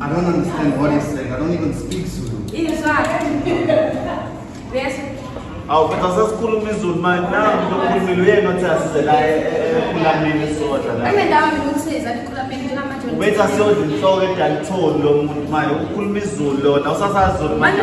I don't understand what he's saying. I don't even speak Zulu. awu kodwa sesikhuluma izulu manje nangu lokhulumile uyena othi asize la ekulameni sodla la ubethi asiyodla inhloko edalithoni lo muntu manje ukhuluma izulu lona usasazulu manje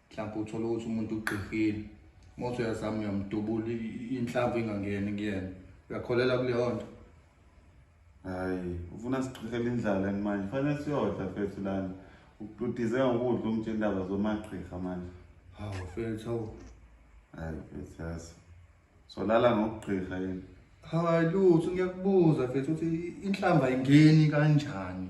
mhlawumbe uthole ukuthi umuntu ugqirhile uma uthi uyazama uyamdubula inhlamvu ingangeni kuyena uyakholela kuleyo nto hayi ufuna sigqirhela indlala ni manje fanele siyodla fethu lana ududize ngokudla umtshe indaba zomagqirha manje hawu fethu hawu hayi fethu yazi solala ngokugqirha yini hayi lutho ngiyakubuza fethu ukuthi inhlamba ingeni kanjani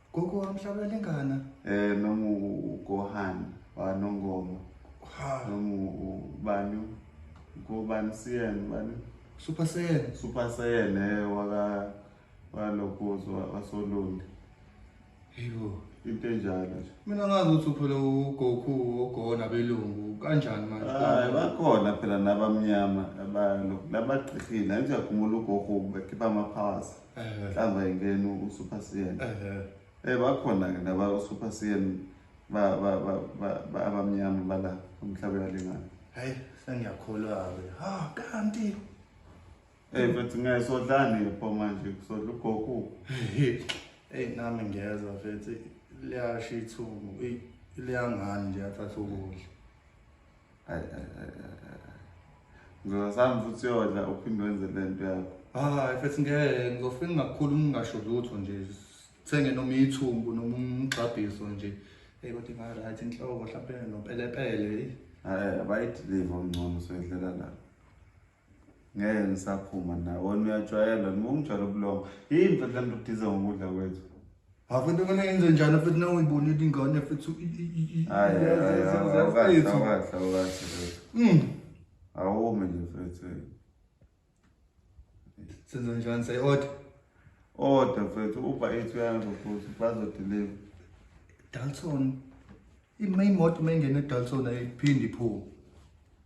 Gogo wami mhlawumbe lengana. Eh noma uGohan wa Nongoma. Ha. Noma ubani? Ngobani siyena bani? Super Saiyan. Super Saiyan eh waka walokozo wasolundi. Yebo. Into enjalo nje. Mina ngazi ukuthi uphela uGoku ogona belungu kanjani manje? Hayi bakhona phela nabamnyama abalokhu labaqhihile. Ngiyakhumula uGoku bekhipha ama powers. inhlamba ingena usuper cn um bakhona-ke naba usuper cn abamnyama bala umhlaba uyalingana hayi sengiyakholwa-ke ha kanti eyi mfethu ngeke sodlani pho manje kusodla ugoku eyi nami ngiyezwa mfethu liyasha ithungu liyangani nje athatha ukudla ngizosami futhi uyodla uphinde wenze le nto yakho hayi mfethu ngeke ngizofika ngingakhulu ngingasho lutho nje sithenge noma ithumbu noma umgxabhiso nje eyi kodwa inga-right inhloko mhlawumpe nopelepele eyi bayidiliva ongcono soyidlela lapho ngeke ngisaphuma naye wona uyajwayela noma ungijwayela ubulongo yini futhi le nto udize ngokudla kwethu afuthi kumele yenze njani futhi nawuyibonile ingane futhi hmm. awume nje futhi senze njani sayi-oda oda futhi uba ethi uyanzo futhi bazodeliva dalton imoto uma ingene edalton ayiphinde iphume